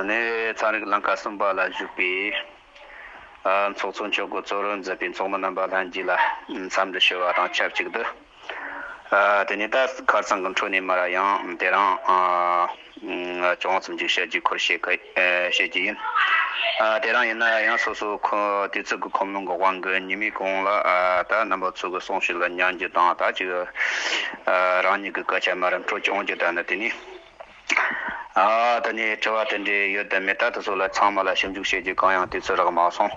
ནས་ཚན་རིག་བླང་བྱ་གསུམ་པ་ལ་བཞུགས་པའི་ཚོགས་གཙོ་མཆོག་གི་གཙོ་རུ་འཛིན་པའི་ཚོགས་མི་རྣམ་པ་ལྷན་རྒྱས་ལ་འཚམས་འདྲི་ཞུ་བ་དང་ཆབས་ཅིག་ཏུ། དེ་ནས་ད་ཁར་ཚང་གི་འཕྲོ་ནས་མར་ཡང་དེ་རང་སྐྱོང་བརྩམས་ཆོས་བཤད་རྒྱུའི་ཁུར་བཞེས་སྐད། བཤད་ཀྱི་ཡིན། དེ་རང་ཡིན་ན་ཡང་སོ་སོ་དུས་ཚོད་ཀྱི་ཁོམ་ལོང་གི་དབང་གིས་ཉེས་མིང་གང་ལ་དག་རྣམ་པ་ཚུགས་ཀྱི་སོང་ཞིག་ལ་མྱང་རྒྱུ་དང་དག་ཅིག་རང་ཉིད་ཀྱི་སྐད་ཆ་མ་རམ་ཁྲོ་ཆུང་རྒྱུ་དག་ནི་དེ་ནི། ད་ནི་དྲི་བ་དེ་འདྲའི་ཡོད་དམ་མེད་ད་དུ་སོགས་ལ་ཚང་མ་ལ་ཞིབ་འཇུག་བྱེད་རྒྱུ་གང་ཡང་དུས་ཚོད་རག་མ་སོང།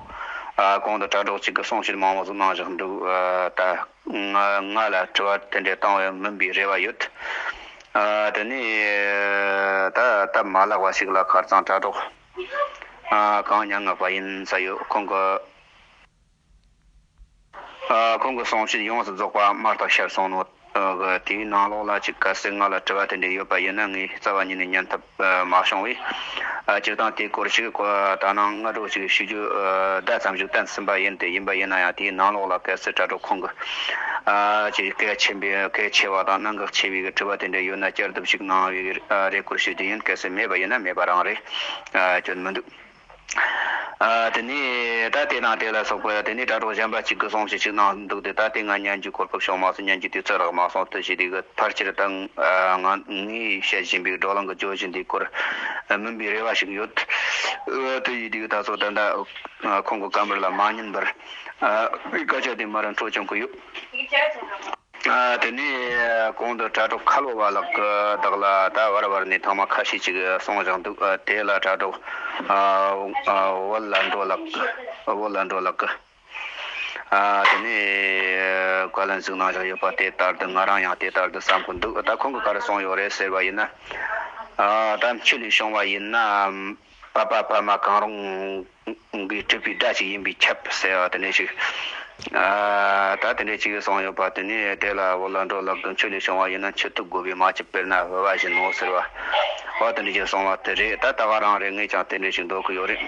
གོང་དུ་དྲ་གྲོགས་གཅིག་གིས་གསུངས་ཕྱིར་མང་བོ་གཟུགས་སྣང་བཞག་འདུག་ད། ང་ལ་དྲི་བ་དེ་འདྲ་བཏང་བའི་མིན་པའི་རེ་བ་ཡོད། དེ་ནས་ད་ལྟ་མ་ལགས་པ་ཞིག་ལ་ཁར་གཙང་དྲ་གྲོགས་གང་མྱ་ངན་པ་ཡིན་ས་ཡོད་ཁོང་གི་ཁོང་གི་གསུང་བཤད་ཡོངས་སུ་རྫོགས་པ་མར་དང་ཤར་གསུང་ནོ། དེའི་ནང་ལོགས་ལ་ཅིག་གལ་སྲིད་ང་ལ་དྲི་བ་དེ་འདྲ་ཡོད་པ་ཡིན་ན་ངས་རྩ་བ་ཉིད་ནས་ཉན་ཐུབ། མ་བྱུང་བས། སྤྱིར་བཏང་དེའི་སྐོར་ཞིག་གོ་ད་ནངས་སྔ་དྲོ་ཞིག་ཞུ་རྒྱུ་ཟླ་ཙམ་ཞིག་བཏང་ཟིན་པ་ཡིན་ཏེ་ཡིན་པ་ཡིན་ན་ཡང་དེའི་ནང་ལོགས་ལ་གལ་སྲིད་དྲ་གྲོགས་ཁོང་གིས་གལ་ཆེན་པོས་གལ་ཆེ་བ་དང་གནད་འགག་ཆེ་བའི་དྲི་བ་དེ་འདྲ་ཡོད་ན་བསྐྱར་ལྡབ་ཞིག་གནང་བའི་རེ་སྐུལ་ཞུ་རྒྱུ་ཡིན་གལ་སྲིད་མེད་པ་ཡིན་ན་མེད་པ་རང་རེད་སྐྱོན་མི་འདུག། དེ་ནས་ད་ལྟའི་ནང་དེ་ལ་སོགས་པའི་དེ་ནས་དྲ་གྲོགས་གཞན་པ་གཅིག་གི་གསུང་བཤད་ཅིག་གནང་འདུག་དེ་ད་ལྟའི་ང་སྙན་རྒྱུད་གོ་སྐབས་བྱུང་མ་སོང་སྙན་རྒྱུད་དུས་ཚོད་རག་མ་སོང་ལྟོས་ཤིག་དེ་གི་ཕར་ཆེར་ད་ང་ངས་བཤད་བཞིན་པའི་སྒྲོག་ལང་གི་ཇོ་བཞིན་དེའི་སྐོར་སྨིན་པའི་རེ་བ་ཞིག་ཡོད། ལྟོས་ཤིག་དེ་གི་ད་སོགས་ད་ལྟ་ཁོང་གི་བཀའ་འབར་ལ་མ་ཉན་པར། བཀའ་ཆོས་དེ་མར་འཕྲོ་བྱུང་གི་ཡོད། དེ་ནས་གོང་དུ་དྲ་གྲོགས་ཁ་ལོ་བ་ལགས་ཀྱི་དག་ལ་ད་བར་བར་ནས་ཐོག་མ་ཁ་ཤས་ཅིག་གསུངས་བཞག་འདུག་དེ་ལ་དྲ་གྲོགས་བོད་ལ་འགྲོ་ལགས་ཀྱི་དེ་ནས་བཀའ་ལན་ཟིག་གནང་བཞག་ཡོད་པ་དེ་ལྟར་དུ་ང་རང་ཡང་དེ་ལྟར་དུ་བསམ་གྱི་འདུག་ད་ཁོང་གི་ག་རེ་གསུངས་ཡོད་རེད་ཟེར་བ་ཡིན་ན་ད་ཆུ་ལས་བྱུང་བ་ཡིན་ནམ། བར་པ་བར་མ་གང་རུང་གིས་སྤྲུལ་པའི་སྒྲ་ཞིག་ཡིན་པས་ཁྱབ་ཟེར་བ་དེ་འདྲས་ཤིག། ད་དེ་འདྲས་ཅིག་བཟང་ཡོད་པ་དེ་ནས་དེ་ལ་བོད་ལ་འགྲོ་ལབ་དུ་མཆོད་ལས་བྱུང་བ་ཡིན་ན་མཆོད་ཐུབ་དགོས་པས་མ་ཅིག་དཔེར་ན་བོད་པ་བཞིན་ནོ་ཟེར་བ། བ་དེ་འདྲས་ཅིག་བཟང་བ་དེ་རེད་ད་ད་ག་རང་རེ་ངས་ཀྱང་དེ་འདྲས་ཤིག་འདོགས་ཀྱི་ཡོད་རེད།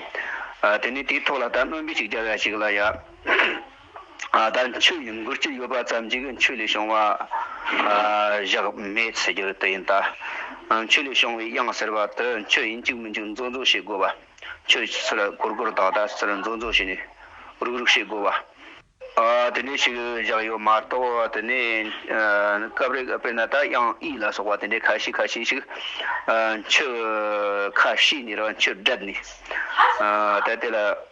དེ་ནས་དེའི་ཐོག་ལ་ད་སྨོན་འབེབས་ཅིག་རྒྱབ་ཡ་ཞིག་ལ་ཡ། ད་ཆོས་ཉིད་མགུར་གྱི་ཡོད་པ་ཙམ་གྱིས་ཆོས་ལས་བྱུང་བ་བཞག་མེད་ཟེར་རྒྱུར་དེ་ཡིན་ད། ཆོས་ལས་བྱུང་བའི་དབྱངས་ཟེར་བ་དེ་ཆོས་ཡིན་གཅིག་མི་འཇུག་མཛོག་མཛོག་བྱེད་དགོས་པ། ཆོས་ཟེར་གོར་གོར་དག་དག་ཟེར་མཛོག་མཛོག་བྱས་ནས་རུག་རུག་བྱེད་དགོས་པ། དེ་ནས་ཞིག་བཞག་ཡོད་མ་གཏོགས་དེ་ནས་སྐབས་རེ་དཔེར་ན་ད་དབྱངས་ཨི་ལ་སོགས་པ་དེ་འདྲའི་ཁ་ཤས་ཁ་ཤས་ཤིག་ཆོས་ཁ་ཤས་ནས་རང་ཆོས་བསྒྲབས་ནས་ད་དེ་ལ།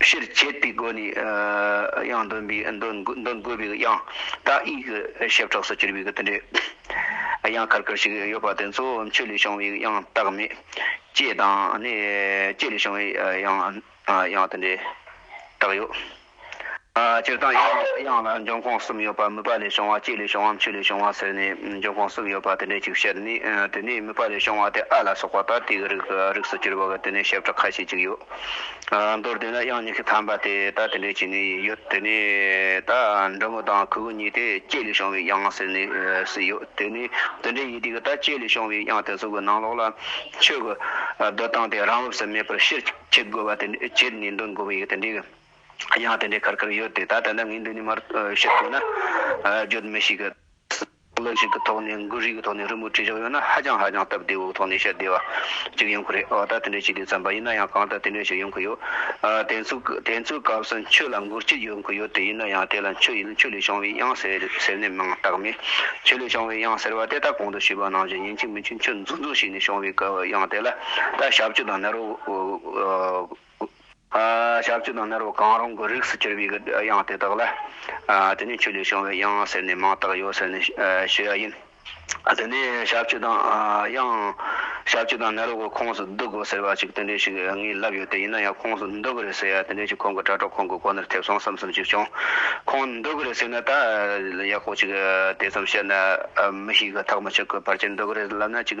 ཕྱིར་བཅད་པའི་སྒོ་ནས་ཡང་འདོན་པའི་འདོན་དགོས་པའི་དབྱངས་རྟ་ཨི་གི་ཞབས་ཁྲག་སུ་གྱུར་པའི་དེ་འདྲའི་དབྱངས་དཀར་དཀར་ཞིག་ཡོད་པ་དེ་ཚོ་མཆུ་ལས་བྱུང་བའི་དབྱངས་རྟགས་མེད། ལྕེ་དང་ནི་ལྕེ་ལས་བྱུང་བའི་དབྱངས་དེ་འདྲའི་རྟགས་ཡོད། སྤྱིར་བཏང་དབྱངས་ལ་འབྱུང་ཁུངས་གསུམ་ཡོད་པ་མུས་པ་ལས་བྱུང་བ་ལྕེ་ལས་བྱུང་བ་མཆུ་ལས་བྱུང་བ་ཟེར་ནས་འབྱུང་ཁུངས་གསུམ་ཡོད་པ་དེ་འདྲའི་ཅིག་བཤད་ནས་དེ་ནས་མུས་པ་ལས་བྱུང་བ་དེ་ཨ་ལ་སོགས་པ་ད་ལྟའི་རིགས་སུ་གྱུར་པ་དེ་ནས་ཞབས་ཁྲག་ཁ་ཤས་ཅིག་ཡོད། མདོར་བསྡུས་ན་དབྱངས་ཉི་ཤུ་ཐམ་པ་དེ་ད་དེ་འདྲའི་ཆེ་ནས་ཡོད་དེ་ནས་ད་འབྲི་མོ་དང་གུ་གུ་གཉིས་དེ་སྐྱེས་ལས་བྱུང་བའི་དབྱངས་ཟེར་ནས་སུ་ཡོད་དེ་ནས་དེ་འདྲའི་ཡི་དེ་གི་ད་སྐྱེས་ལས་བྱུང་བའི་དབྱངས་དེ་ཚོ་གི་ནང་ལོགས་ལ་ཆོས་གི་སྡོད་སྟངས་དེ་རང་བབས་སུ་མེད་པར་ཕྱིར་ཁྱེར་དགོས་པ་དེ་ཁྱེར་ནས་འདོན་དགོས་པ་ཡི་དེ་འདྲའི་གི་དབྱངས་དེ་འདྲའི་ཁར་ཁར་ཡོད་དེ་ད་དེ་འདྲ་ངས་འདི་ནས་མར་བཤད་དགོས་ན་བརྗོད་མི་ཤེས་གི། བློ་གཅིག་གི་ཐོག་ནས་འགུལ་རིས་ཀྱི་ཐོག་ནས་རི་མོ་བྲིས་ཆོག་ཡོད་ན་ཧ་ཅང་ཧ་ཅང་སྟབས་བདེ་བོའི་ཐོག་ནས་བཤད་བདེ་བ་གཅིག་ཡོང་གི་རེད་འོ་ད་དེ་འདྲའི་བྱེད་དུས་བརྩམས་པ་ཡིན་ན་ཡང་གང་ལྟར་དེ་འདྲའི་ཞིག་ཡོང་གི་ཡོད། དེ་ཚོ་དེ་ཚོའི་སྐབས་སུ་ཁྱོད་ལ་འགུལ་སྐྱོད་ཡོང་གི་ཡོད་དེ་ཡིན་ན་ཡང་དེ་ལ་ཁྱོད་ཡིན་ན་ཁྱོད་ལས་བྱུང་བའི་དབྱངས་ཟེར་ནས་མིང་བཏགས་མེད། ཁྱོད་ལས་བྱུང་བའི་དབྱངས་ཟེར་བ་དེ་ད་གོང་དུ་ཞུས་པ་ནང་བཞིན་ཡིན་གཅིག་མིན་གཅིག་ཁྱོད་འཛུགས་འཛུགས་ཤིག་ནས་བྱུང་བའི་དབྱངས་དེ་ལ་ད་ཞབས་ཕྱི་དང་ནི་རོ། ཤ་བཅུ་དང་སྣར་བུ་གང་རུང་གི་རིགས་སུ་གྱུར་པའི་དབྱངས་དེ་དག་ལ། དེ་ནི་ཆུ་ལས་བྱུང་བའི་དབྱངས་ཟེར་ནས་མིང་བཏགས་ཡོད་ཟེར་ནས་ཞུ་ཡ་ཡིན། དེ་ནས་ཤ་བཅུ་དང་དབྱངས། ཤ་བཅུ་དང་སྣར་བུ་ཁོངས་སུ་བསྡུ་དགོས་ཟེར་བ་ཅིག་དེ་འདྲས་ཤིག་ངས་བསླབས་ཡོད་དེ་ཡིན་ན་ཡང་ཁོངས་སུ་འདུ་གི་རེད་ཟེར་ཡ་དེ་འདྲས་ཅིག་ཁོང་གི་དྲ་གྲོགས་ཁོང་གི་གོ་ནོར་ཐེབས་སོང་བསམ་བསམ་ཅིག་བྱུང། ཁོང་འདུ་གི་རེད་ཟེར་ན་ད་ཡག་པོ་ཅིག་དེ་ཙམ་བཤད་ན་མི་ཞིག་གི་ཐག་མི་ཆོད་གི་བར་གྱི་འདུ་གི་རེད་ལབ་ན་ཅིག།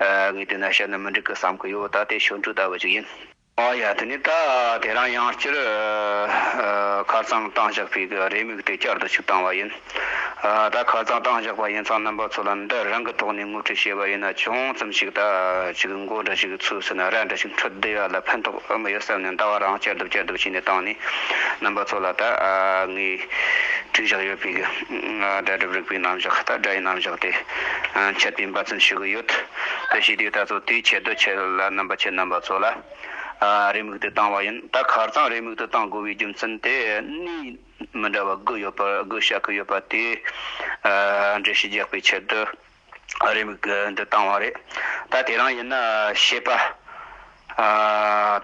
ངས་དེ་ན་ཤར་ནས་མི་འགྲིག་གི་བསམ་གི་ཡོད་ད་དེ་ཤོད་འགྲོ་ལྟ་བུ་ཅིག་ཡིན། ཨ་ཡ་དེ་ནས་ད་དེ་རང་ཡང་སྤྱིར་ཁ་རྩང་བཏང་བཞག་པའི་གི་རེ་མིག་དེ་བསྐྱར་དུ་ཆུ་བཏང་བ་ཡིན། ད་ཁ་རྩང་བཏང་བཞག་པ་ཡིན་ཚང་རྣམ་པ་ཚོ་ལ་འདི་རང་གི་ཐོག་ནས་ངོ་སྤྲོད་བྱས་པ་ཡིན་ན་ཅུང་ཙམ་ཞིག་ད་ཅིག་མགོ་འདྲ་ཞིག་ཚུགས་ཟིན་ན་ར་འདྲ་ཞིག་འཕྲོད་བདེ་ཡག་ལ་ཕན་ཐོག་ཨེ་མ་ཡོད་བསམ་ནས་ཟླ་བ་རང་བསྐྱར་དུ་བསྐྱར་དུ་བྱས་ནས་བཏང་ནས་རྣམ་པ་ཚོ་ལ་ད་ངས་དྲིས་བཞག་ཡོད་པའི་གི། སྒྲ་སྒྲུབ་རིག་པའི་རྣམ་གཞག་ལྟར་སྒྲ་ཡི་རྣམ་གཞག་དེ་འཆད་པའི་འབའ་ཚུལ་ཞིག་ཡོད་དེ་ཞེས་དེའི་ལྟ་ཚུལ་དེའི་ཆེད་དུ་ཁྱེད་ལ་རྣམ་པ་ཆེ་རྣམ་པ་ཚོ་ལ་རེའུ་མིག་ཏུ་བཏང་བ་ཡིན་ད་གར་ཚང་རེའུ་མིག་ཏུ་གཏང་དགོས་པའི་རྒྱུ་མཚན་དེ་གནས་མི་འདྲ་བ་དགུ་ཡོད་པར་དགུ་བཤད་ཀྱི་ཡོད་པ་དེའི་འགྲེལ་བཤད་རྒྱག་པའི་ཆེད་དུ། ཨ་རིས་མིག་འདི་བཏང་བ་རེད། ད་དེ་རང་ཡིན་ན་ཤེས་པ།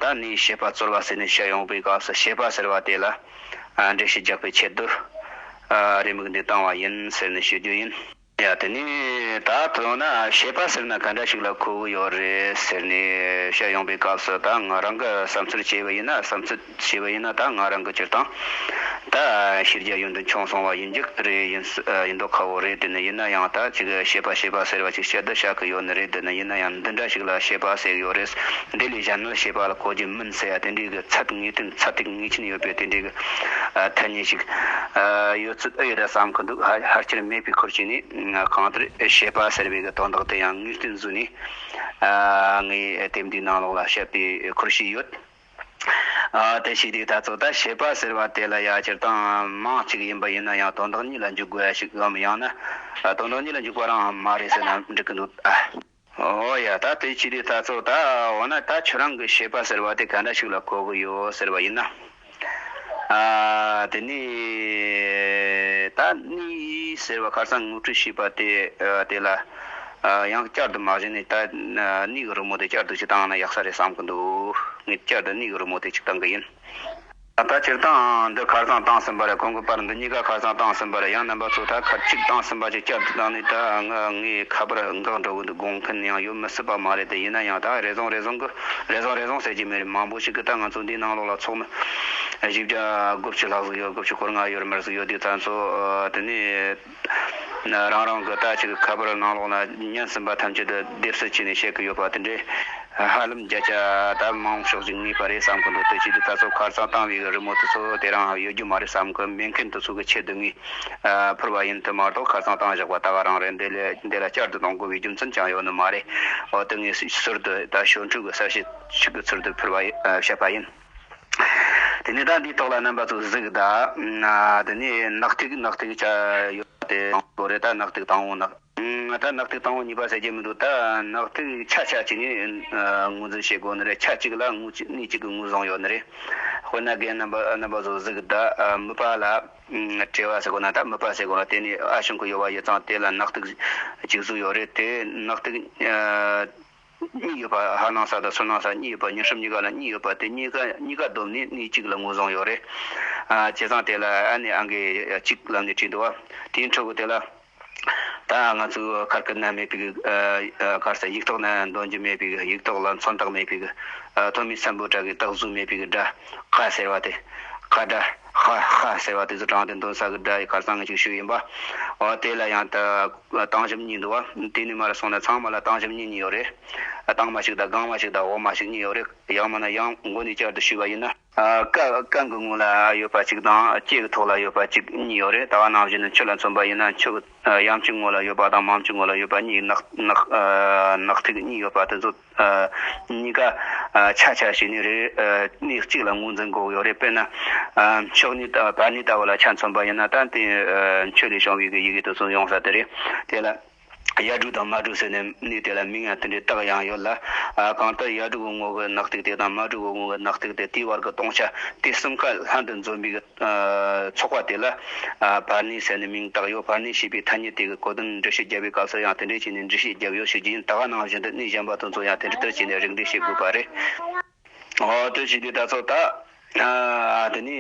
ད་ནི་ཤེས་པ་རྩོལ་བ་ཟེར་ནས་བཤད་ཡོང་པའི་སྐབས་སུ་ཤེས་པ་ཟེར་བ་དེ་ལ་འགྲེལ་བཤད་རྒྱག་པའི་ཆེད་དུ། ཨ་རིས་མིག་འདི་བཏང་བ་ཡིན་ཟེར་ནས་ཞུ་རྒྱུ་ཡིན། ཡ་དེ་ནི་ད་དུ་ཡང་ན་ཤེས་པ་ཟེར་ན་ག་འདྲ་ཞིག་ལ་གོ་བོ་ཡོད་རེད་ཟེར་ནས་བཤད་ཡོང་པའི་སྐབས་སུ་ད་ང་རང་གི་བསམ་ཚུལ་བྱས་པ་ཡིན་ན་བསམ་ཚུལ། བྱས་པ་ཡིན་ན་ད་ང་རང་གི་སྤྱིར་བཏང་ད་ཤེས་རྒྱ་ཡོད་འདུག་ཆུང་སོང་བ་ཡིན་རྒྱུ་རེད་ཡིན་མདོག་ཁ་བོ་རེད་དེ་ནི་ཡིན་ན་ཡང་ད་ཅིག་ཤེས་པ་ཤེས་པ་ཟེར་བ་ཅིག་བཤད་དུ་བཞག་གི་ཡོད་ནི་རེད་དེ་ནི་ཡིན་ན་ཡང་འདི་འདྲ་ཞིག་ལ་ཤེས་པ་ཟེར་གི་ཡོད་རེད་འདི་ལས་གཞན་ནི་ཤེས་པ་ལ་གོ་རྒྱུ་མིན་ཟེར་ཡ་དེ་འདྲའི་གི་ཚད་ངེས་དོན་ཚད་ཐིག་ངེས་ཅན་ཡོད་པའི་དེ་འདྲའི་གི་ཐ་སྙད་ཅིག་ཡོད་ཚོད་ཨེ་ཡོད་ར་བསམ་གི་འདུག་ཧར་ཅིར་མེད་པའི་ཁུར་བྱས་ནས་གང་ལྟར་ཤེས་པ་ཟེར་བའི་གི་དོན་དག་དེ་ཡང་ངེས་དོན་བཟོས་ནས་ངས་དེབ་འདིའི་ནང་ལོགས་ལ་བཤད་པའི་ཁུར་བྱས་ཡོད། དེ་ཞིག་རིགས་ལྟ་ཚོད་ལྟ་བྱེད་པ་ཟེར་བ་དེ་ལ་ཡང་སྤྱིར་བཏང་མང་གཅིག་ཡིན་པ་ཡིན་ན་ཡང་དོན་དག་གཉིས་ལ་འཇུག་དགོས་ཡ་ཞིག་གམ་ཡང་ན་དོན་དག་གཉིས་ལ་འཇུག་པ་རང་ཨང་མ་རེད་ཟེར་ན་འགྲིག་གི་འདུག་ད། འོ་ཡ་ད་དེ་ཅི་རིགས་ལྟ་ཚོད་ལྟ་འོ་ན་ད་ཁྱོད་རང་གི་བྱེད་པ་ཟེར་བ་དེ་ག་འདྲ་ཞིག་ལ་གོ་གི་ཡོད་ཟེར་བ་ཡིན་ན། དེ་ནི། ད་གནས་ཡིག་ཟེར་བ་ཁར་སང་ངོ་སྤྲོད་བྱས་པ་དེ་དེ་ལ། ཡང་བསྐྱར་དུ་མ་གཞི་ནས་ད་ནིའི་གི་རི་མོ་དེ་བསྐྱར་དུ་ཅིག་བཏང་ན་ཡག་ས་རེད་བསམ་གི་འདུག་ངས་བསྐྱར་དུ་ནིའི་གི་རི་མོ་དེ་ཅིག་བཏང་གི་ཡིན། ད་ལྟ་སྤྱིར་བཏང་འདི་ཁར་སང་བཏང་ཟིན་པ་རེད་གོང་གི་པར་འདི་གཉིས་ཀ་ཁར་སང་བཏང་ཟིན་པ་རེད་ཡང་རྣམ་པ་ཚོ་ད་ཁར་གཅིག་བཏང་ཟིན་པ་ཅིག་བསྐྱར་དུ་བཏང་ནས་ད་ངའི་ངའི་ཁ་པར་འགག་འགྲོ་གི་འདུག་དགོངས་མཁན་ཡང་ཡོད་མི་སྲིད་པ་མ་རེད་དེ་ཡིན་ན་ཡང་ད་རེ་བཟུང་རེ་བཟུང་གི་རེ་བཟུང་རེ་བཟུང་ཟེར་གྱི་མི་རེད་མང་པོ་ཞིག་གིས་ད་ང་ཚོ་འདིའི་ནང་ལོགས་ལ་ཚོགས་མི་བཞི་བརྒྱ་དགུ་བཅུ་ལྷག་ཟིག་ཡོད་དགུ་བཅུ་སྐོར་ལྔ་ཡོད་རེ་མར་ཟིག་ཡོད་དེ་ཚང་ཚོ་དེ་ནས། རང་རང་གི་ལྟ་ཅི་ཁ་པར་ནང་ལོག་ན་སྙན་སིན་པ་ཐམས་ཅད་དུ་སྡེབ་སུ་བྱས་ནས་བཤད་གི་ཡོད་པ་དེ་འདྲས་ཧ་ལམ་རྒྱ་ཁྱ་ད་མང་ཤོག་ཅིག་ངེས་པ་རེད་བསམ་གི་འདུག་དེ་བྱས་དུས་ད་སོ་ཁར་ཙང་བཏང་བའི་རི་མོ་དེ་ཚོ་དེ་རང་ཡོད་རྒྱུ་མ་རེད་བསམ་གི་མེད་མཁན་དེ་ཚོ་གི་ཆེད་དུ་ངས་ཕུར་བ་ཡིན་དུས་མ་གཏོགས་ཁ་ཙང་བཏང་བཞག་པ་ད་ག་རང་རེད་འདི་ལ་བསྐྱར་དུ་གཏོང་དགོས་པའི་རྒྱུ་མཚན་ཅང་ཡོད་ནི་མ་རེད་འོ་དེ་ངས་ཟུར་དུ་ད་ཞོར་འཁྲུག་གི་གསར་བཤད་ཞིག་གི་ཚུལ་དུ་ཕུར་བ་བཤད་པ་ཡིན། དེ་ནས་བདག་འདིའི་ཐོག་ལ་རྣམ་པ་ཚོ་གཟིགས་གདའ། དེ་ནས་ནག་ཐིག་ནག་ཐིག་བྱ། ཡོད་པ་དེ་དང་པོ་རེད་ད་ནག་ཐིག་དང་བོ་ནག། ད་ནག་ཐིག་དང་བོ་གཉིས་པ་ཟེར་གྱི་མི་འདུག་ད་ནག་ཐིག་ཆ་ཆ་གཅིག་ནས་ངོས་འཛིན་བྱེད་དགོས་ནི་རེད་ཆ་གཅིག་ལ་ངོས་གཅིག་གཉིས་གཅིག་གི་ངོས་བཟུང་ཡོད་ནི་རེད། དཔེར་ན་རྒན་རྣམ་པ་རྣམ་པ་ཚོ་གཟིགས་གདའ། མི་ཕ་ལ་བྲེལ་བ་ཟེར་དགོས་ན་ད་མི་ཕ་ཟེར་དགོས་ལ་དེ་ནས་ཨ་ཞང་གི་ཡོལ་བ་ཡོད་ཙང་དེ་ལ་ནག་ཐིག་གཅིག་བཟོས་ཡོད་རེད་དེ་ནག་ཐིག། གཉིས་ཡོད་པ་ཧ་ནང་ས་དང་སོ་ནང་ས་གཉིས་ཡོད་པ་ཉེར་སུམ་གཉིས་ཀ་ལ་གཉིས་ཡོད་པ་དེ་གཉིས་ཀ་གཉིས་ཀ་བསྡོམས་ནས་གནས་གཅིག་ལ་ངོས་བཟུང་ཡོད་རེད། བྱས་ཙང་དེ་ལ་ཨ་ནེ་ཨང་ཀི་གཅིག་ལམ་ནས་བྲིས་འདུག་བ་དེའི་འཕྲོ་གུ་དེ་ལ་ད་ང་ཚོས་ཁར་ཁུར་ན་མེད་པའི་ཁར་ས་ཡིག་ཐོག་ན་འདོན་རྒྱུ་མེད་པའི་ཡིག་ཐོག་ལ་མཚོན་རྟགས་མེད་པའི་ཐོན་མིའི་སམ་བུ་དྲ་གི་རྟགས་གཟུགས་མེད་པའི་སྒྲ་ཁ་ཟེར་བ་དེ་ཁ་སྒྲ་ཧ་ཧ་ཟེར་བ་དེ་ཚོ་དྲངས་ཏེ་འདོན་ས་གི་སྒྲ་ཡི་ཁར་ས་ངེས་ཅིག་ཞུས་ཡིན་པ། འོ་དེ་ལ་ཡང་ད། ལ་སྟང་ཞིམ་གཉིས་འདུག་བ། དེ་ནི་མ་རེད་སོང་ནས་ཚང་མ་ལ་སྟང་ཞིམ་གཉིས་གཉིས་ཡོད་རེད། སྟང་མ་ཞིག་དང་སྒང་མ་ཞིག་དང་འོག་མ་ཞིག་གཉིས་ཡོད་རེད། ཡང་མིན་ན་ཡང་མགོ་ནས་བསྐྱར་དུ་ཞུས་པ་ཡིན་ན། ཀ། ཀ་གི་ངོས་ལ་ཡོད་པ་གཅིག་དང་ཀྱེ་གི་ཐོག་ལ་ཡོད་པ་གཅིག་གཉིས་ཡོད་རེད། ད་བ་ནང་བཞིན་དུ་མཆུ་ལ་མཚོན་པ་ཡིན་ན་མཆུ་གི་ཡམ་གྱི་ངོས་ལ་ཡོད་པ་དང་མམ་གྱི་ངོས་ལ་ཡོད་པ་གཉིས་ནག། ནག་ཐིག་གཉིས་ཡོད་པ་དེ་ཚོ། གཉིས་ཀ་ཆ་ཆ་ཞིག་ནི་རེད། གནས་གཅིག་ལ་ངོས་འཛིན་དགོས་ཡོད་རེད་དཔེར་ན། ཕྱོགས་ནི་བར་ནི་ལྟ་བུ་ལ་ཆ་མཚོན་པ་ཡིན་ན་ད་དེ་ཁྱོད་ལས་བྱུང་བའི་གི་ཡི་གེ་དུ་གསུམ་ཡོང་ས་དེ་རེད། དེ་ལ་གཡའ་དྲུག་དང་མ་དྲུག་ཟེར་ནས་ནི་དེ་ལ་མིང་ཡང་དེ་འདྲའི་བཏགས་ཡང་ཡོད་ལ། གང་ལྟར་གཡའ་དྲུག་གི་ངོ་བོའི་ནག་ཐིག་དེ་དང་མ་དྲུག་གི་ངོ་བོའི་ནག་ཐིག་དེ་དེའི་བར་གི་སྟོང་ཆ་དེ་གསུམ་ཀ་ལྷན་དུ་འཛོམས་པའི་གི། ཚོགས་པ་དེ་ལ། བར་ནི་ཟེར་ནས་མིང་བཏགས་ཡོད་བར་ནི་ཞེས་པའི་ཐ་སྙད་དེ་གི་གོ་དོན་འགྲེལ་བཤད་རྒྱབ་པའི་སྐབས་སུ་ཡང་དེ་འདྲས་བྱས་ནས་འགྲེལ་བཤད་རྒྱབ་ཡོད་ཤོད་ཀྱི་ཡིན་ད་ག་ནང་བཞིན་དུ་གནས་གཞན་པ་དང་ཚོ་ཡང་དེ་འདྲ་ལྟར་བྱས་ནས་རིགས་འགྲེལ་བཤད་དགོས་པ་རེད། འོ་དོད་བྱས་པའི་སྒྲ་ཚོགས་དག། དེ་ནས།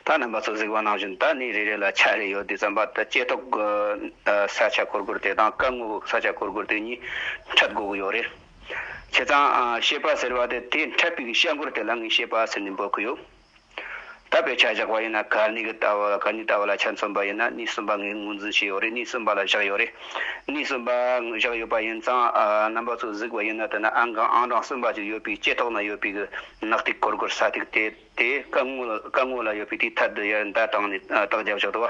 ད་རྣམ་པ་ཚོ་གཟིགས་པ་ནང་བཞིན་ད་གནས་རེ་རེ་ལ་ཆ་རེ་ཡོད་དེ་བརྩམས་པ་དང་བཅས་ཐོག་གི། ས་ཆ་གོར་གོར་དེ་དང་སྐར་ངོ་ས་ཆ་གོར་གོར་དེ་གཉིས་འཕྲད་དགོས་ཀྱི་ཡོད་རེད། བྱས་ཙང། ཤེས་པ་ཟེར་བ་དེ་དེ་འཕྲད་པའི་གི་བཤད་མགོར་དེ་ལ་ངས་ཤེས་པ་ཟེར་ནས་འབོད་ཀྱི་ཡོད། བཏབ་པའི་ཆ་བཞག་པ་ཡིན་ན་ག་ནི་གི་ལྟ་བ་ག་ནི་ལྟ་བ་ལ་ཆ་མཚོན་པ་ཡིན་ན་གནས་གསུམ་པ་ངས་ངོས་འཛིན་བྱས་ཡོད་རེད་གནས་གསུམ་པ་ལ་བཞག་ཡོད་རེད། གནས་གསུམ་པ་བཞག་ཡོད་པ་ཡིན་ཙང་རྣམ་པ་ཚོ་གཟིགས་པ་ཡིན་ན་དེ་ན་ཨང་གང་ཨང་གྲངས་གསུམ་པ་ཅིག་ཡོད་པའི་ལྕེ་ཐོག་ན་ཡོད་པའི་གི་ནག་ཐིག་གོར་གོར་ས་ཐིག་དེ་དེ་སྐ་ངོས་ལ་ཡོད་པའི་དེའི་ཐད་དུ་ཡར་མདའ་བཏང་ནས་ལྟག་རྒྱབ་བཞག་འདུག་བ།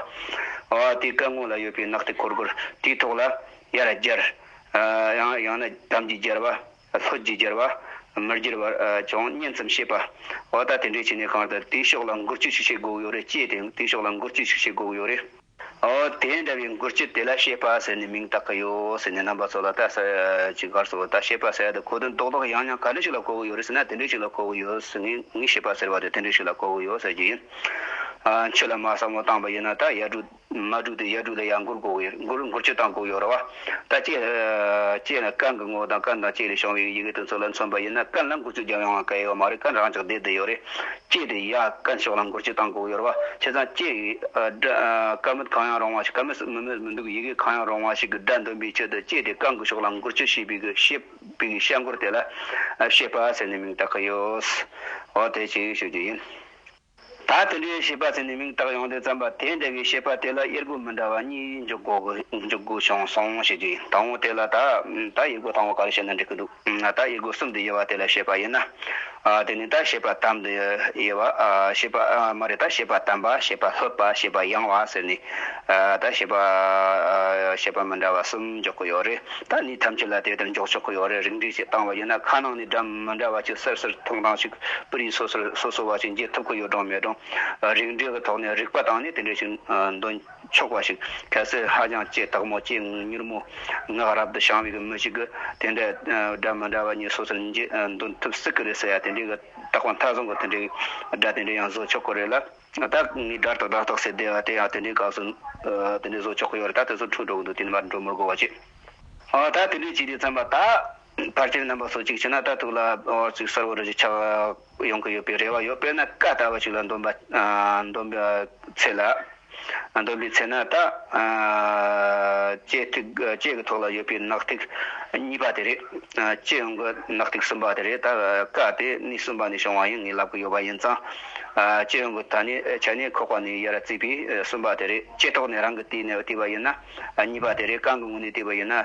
བ་དེ་སྐ་ངོས་ལ་ཡོད་པའི་ནག་ཐིག་གོར་གོར་དེའི་ཐོག་ལ་ཡར་སྦྱར། ཡང་ཡང་ན་དམ་གྱིས་སྦྱར་བ། ལྷོ་རྒྱུད་རྒྱལ་བ། མི་རྒྱུད་བར་ཅུང་སྙན་ཙམ་བཤད་པ། འོ་ད་དེ་འདྲས་བྱས་ནས་གང་ལྟར་དུས་ཤོག་ལ་འགུལ་སྐྱོད་ཤིག་བྱེད་དགོས་ཀྱི་ཡོད་རེད་ཅེས་དེ་དུས་ཤོག་ལ་འགུལ་སྐྱོད་ཤིག་བྱེད་དགོས་ཀྱི་ཡོད་རེད། འོ་དེ་འདྲ་བའི་འགུལ་སྐྱོད་དེ་ལ་ཤེས་པ་ཟེར་ནས་མིང་བཏགས་ཀྱི་ཡོད་ཟེར་ནས་རྣམ་པ་ཚོ་ལ་བལྟ་ས་ཅི་གར་སོང་ད་ཤེས་པ་ཟེར་ཡ་དེ་གོ་དོན་རྡོག་རྡོག་ཡང་ཡང་ག་འདྲ་ཞིག་ལ་གོ་གི་ཡོད་རེད་ཟེར་ན་དེ་འདྲས་ཞིག་ལ་གོ་གི་ཡོད་ཟེར་ངས་ངས་ཤེས་པ་ཟེར་བ་དེ་དེ་འདྲས་ཞིག་ལ་གོ་གི་ཡོད་ཟེར་གྱི་ཡིན། ཁྱོད་ལ་མ་བསམ་བློ་བཏང་བ་ཡིན་ན་ད་ཡར་འགྲོ། མ་དྲུག་དང་ཡར་དྲུག་ལ་ཡང་མགུར་གོ་བའི་མགུར་མགུར་ཁྱོད་དང་གོ་བའི་ར་བ། ད་ཅེས་ལ་རྐང་གི་ངོ་དང་རྐང་དང་ཅེས་ལས་བྱུང་བའི་ཡི་གེ་དོན་ཚོགས་ལ་མཚོན་པ་ཡིན་ན་རྐང་ལ་མགུར་ཚུལ་རྒྱབ་ཡོང་བ་ག་ཡོད་ཀ་མ་རེད་རྐང་རང་ཅག་བསྡད་དུ་ཡོད་རེད། ཅེས་དེ་ཡར་རྐང་ཕྱོགས་ལ་མགུར་ཁྱོད་དང་གོ་བའི་ར་བ། བྱས་ཙང་ཅེས་སྒྲ་མི་གང་ཡང་རུང་བ་ཞིག་ག་མི་སྲིད་མི་མེད་མི་འདུག་ཡི་གེ་གང་ཡང་རུང་བ་ཞིག་གི་སྒྲ་འདོན་པའི་ཆེད་དུ་ཅེས་དེ་རྐང་གི་ཕྱོགས་ལ་མགུར་ཁྱོད་ཞེས་པའི་ཞེས་པའི་གི་ཤ་མགུར་དེ་ལ། ཤེས་པ་ཟེར་ནས་མིང་བཏགས་ཀྱི་ཡོད། འོ་དེ་ཅིག་ཤོད་རྒྱུ་ཡིན། ད་དེ་འདྲའི་བྱིས་པ་ཟེར་ནས་མིང་བཏགས་ཡོང་དུས་བརྩམས་པ་དེ་འདྲ་བའི་བྱིས་པ་དེ་ལ་དབྱེར་དགུ་མི་འདྲ་བ་གཉིས་འཇོག་དགོས་འཇོག་དགོས་བྱུང་སོང་ཞེས་བརྗོད་ཡིན་ད་འོང་དེ་ལ་ད་ད་དབྱེར་དགུ་དང་བོ་ག་རེ་བྱས་ན་འགྲིག་གི་འདུག་ད་དབྱེར་དགུ་གསུམ་དུ་དབྱེ་བ་དེ་ལ་བྱིས་པ་དབྱེ་ན་དེ་ནི་ད་བྱིས་པ་དམ་དུ་དབྱེ་བ་བྱིས་པ་མ་རེད་ད་བྱིས་པ་དམ་པ་བྱིས་པ་ལྷོད་པ་བྱིས་པ་ཡང་བ་ཟེར་ནས་ད་བྱིས་པ་བྱིས་པ་མི་འདྲ་བ་གསུམ་འཇོག་གི་ཡོད་རེད་ད་ནི་ཐམས་ཅད་ལ་དེ་ལྟར་འཇོག་ཆོག་གི་ཡོད་རེད་རིགས་འགྲེ་བྱེད་སྟངས་བ་ཡིན་ན་ཁ་ནང་ནས་དགྲམ། མི་འདྲ་བ་ཅིག་གསེར་གསེར་ཐོང་ཐང་ཞིག་སྤུ་རིས་སོ་སོར་སོ་སོ་བ་ཞིག་འབྱེད་ཐུབ་ཁོ་ཡོད་གྲང་མེད་གྲང། རིགས་འགྲེ་གི་ཐོག་ནས་རིག་པ་དང་ནི་དེ་འདྲ་ཞིག་འདོན་ཆོག་པ་ཞིག་གལ་སྲིད་ཧ་ཅང་སྐྱེས་སྟག་མོ་སྐྱེས་མྱུར་མོ་ངག་རབ་ཏུ་བྱང་བའི་གི་མི་ཞིག་གི་དེ་འདྲ་སྒྲ་མི་འདྲ་བ་གཉིས་སོ་སོར་འབྱེད་འདོན་ཐུབ་སྲིད་གི་རེད་ཟེར་ཡ་དེ་འདྲའི་གི་རྟགས་པ་མཐའ་བཟང་གི་དེ་འདྲའི་གི་སྒྲ་དེ་འདྲ་ཡང་བཟོ་ཆོག་གི་རེད་ལ། ད་ངས་སྒྲ་རྟགས་སྒྲ་རྟགས་ཟེར་བསྡད་པ་དེ་ཡང་དེ་འདྲའི་སྐབས་སུ་དེ་འདྲའི་བཟོ་ཆོག་གི་ཡོད་རེད་ད་དེ་ཚོ་འཁྲུག་འགྲོ་གི་འདུག་དེ་ནི་མར་འགྲོ་མི་དགོས་པ་ཅི། ད་དེ་འདྲའི་བྱས་ཏེ་བརྩམས་པ་ད། ཕར་ཆེར་རྣམ་པ་སོ་གཅིག་བྱས་ན་རྟགས་ཐུག་ལ་བར་ཚིག་གསར་བུ་རེ་རེ་ཆགས་ཡོང་གི་ཡོད་པའི་རེ་བ་ཡོད་དཔེར་ན་ཀ་བལྟ་བ་ཞིག་ལ་འདོམས་པའི་ཚེ་ལ། འདོམས་པའི་ཚེ་ན་ད། ལྕེ་ཐིག་ལྕེ་གི་ཐོག་ལ་ཡོད་པའི་ནག་ཐིག་གཉིས་པ་དེ་རེད། ལྕེ་ཡོང་གི་ནག་ཐིག་གསུམ་པ་དེ་རེད་ད། ཀ་དེ་ནི་གསུམ་པ་ནས་བྱུང་བ་ཡིན་ངེས་ལབ་གི་ཡོད་པ་ཡིན་ཙང། ལྕེ་ཡོང་གི་ད་ནི་ཆ་ནས་ཁོག་པ་ནས་དབྱེ་ར་བརྩིས་པས་གསུམ་པ་དེ་རེད། ལྕེ་ཐོག་ནས་རང་གི་ལྟོས་ནས་བལྟས་པ་ཡིན་ན་གཉིས་པ་དེ་རེད་རྐང་གི་ངོས་ནས་བལྟས་པ་ཡིན་ན།